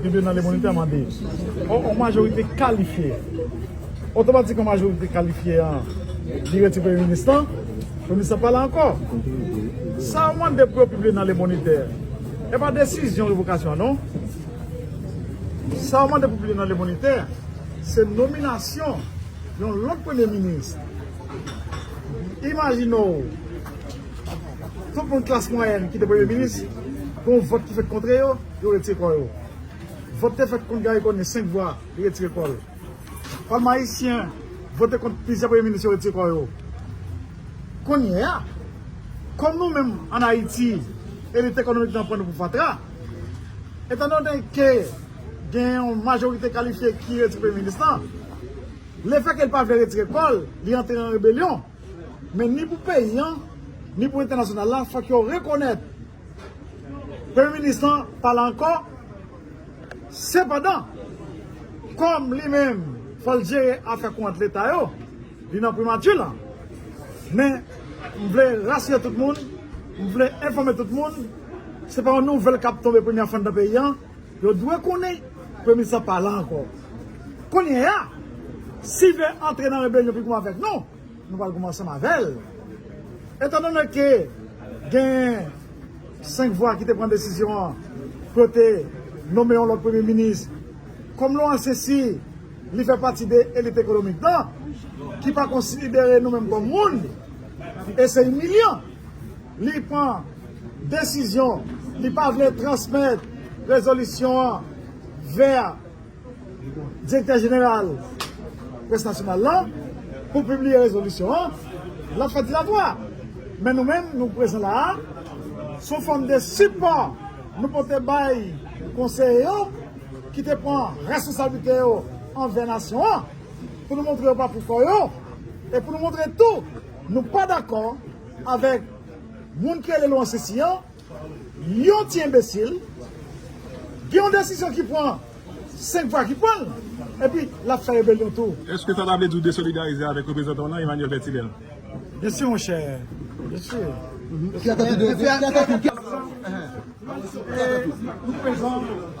Tribinal de Bonita mande ou on majorite kalifye. Otomatik on majorite kalifye an vire ti premye minis lan, premye minis lan pa la ankò. Sa ou mande pou yo pibliye nan Le Moniteur, e pa desizyon revokasyon an non. Sa ou mande pou pibliye nan Le Moniteur, se nominasyon yon lòt premye minis. Imajine ou, tout moun klas mwayèn ki te premye minis, gon vòt ki fèt kontre yo. Yo retire kò yo. Vòt te fèt kont Garry Conille, 5 vwa, li retire kò l. Palman ayisyen vote kont plizyè premye minis, yo retire kò yo. Kounye a, kòm nou menm ann Ayiti, elit ekonomik nan pran nou pou fatra, etandone ke gen yon majorite kalifye ki retire premye minis lan, lefèke li pa vle retire kò l, li antre an rebelyon. Men ni pou peyi an, ni pou entènasyonal la, fòk yo rekonèt. Premye minis lan pale ankò, sepandan, kòm li menm fò l jere afè kont leta yo, li nan primati lan. Men, m vle rasire tout moun, m vle enfòme tout moun, se pa yon nouvèl k ap tonbe premyè fwa anndan peyi an, yo dwe konnen Premye minis lan pa la ankò. Kounyeya, si vle antre nan rebelyon pi gou avèk nou, Nou pral goumen ansanm avè l. Etandone ke gen 5 vwa ki te pran desizyon an pou yo te nome yon lòt premye minis, kòm Laurent Cessy, li fè pati de elit ekonomik lan, ki pa konsidere nou menm kòm moun, e se imilyan. Li pran desizyon li pa vle transmèt rezolisyon an vè. Direktè Jeneral Près Nasyonal la pou pibliye rezolisyon an, l ap fè ti latwa. Men nou menm nou prezan la a sou fòm de sipò nou pote bay konseye yo ki te pran reskonsablite yo anvè nasyon an pou nou montre yo pa pou kò yo e pou nou montre tou nou pa dakò avèk moun ki rele Lwon Sisi an. Yon ti enbesil gen yon desizyon ki pran 5 vwa ki pranl epi lap fè rebelyon tou. Eske sa ta vle di ou desolidarize avèk reprezantan w lan Emmanuel Bertilel? Byensi mon chè, byensi. Fè atansyon, fè atansyon.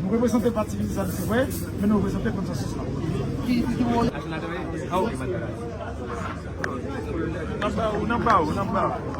Nou reprezante pati peyizan se vre, men nou reprezante konsansis la.